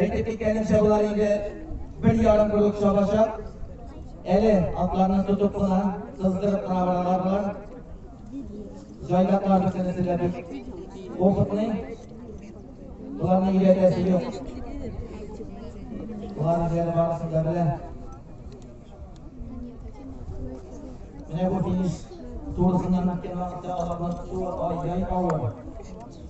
Әйтеп киткәнемчә, болар инде бер ярым бүлек чабачак. Әле атларны тотып кына, сыздырып кына баралар болар. Җайдаклар бөтенесе дә бик опытный. Боларны өйрәтәсе юк. Болар үзләре барысын да белә. Менә бу финиш турысыннан үткән вакытта аларның суы ай-яй авыр.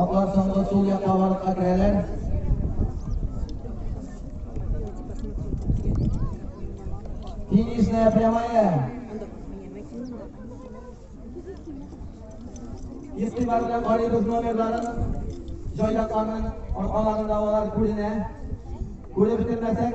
Атлар соңгы сул якка барып керәләр. Финишная прямая. Истибар белән карыйбыз номерларын. Җайлакларның аркаларында алар күренә. Күреп бетермәсәк,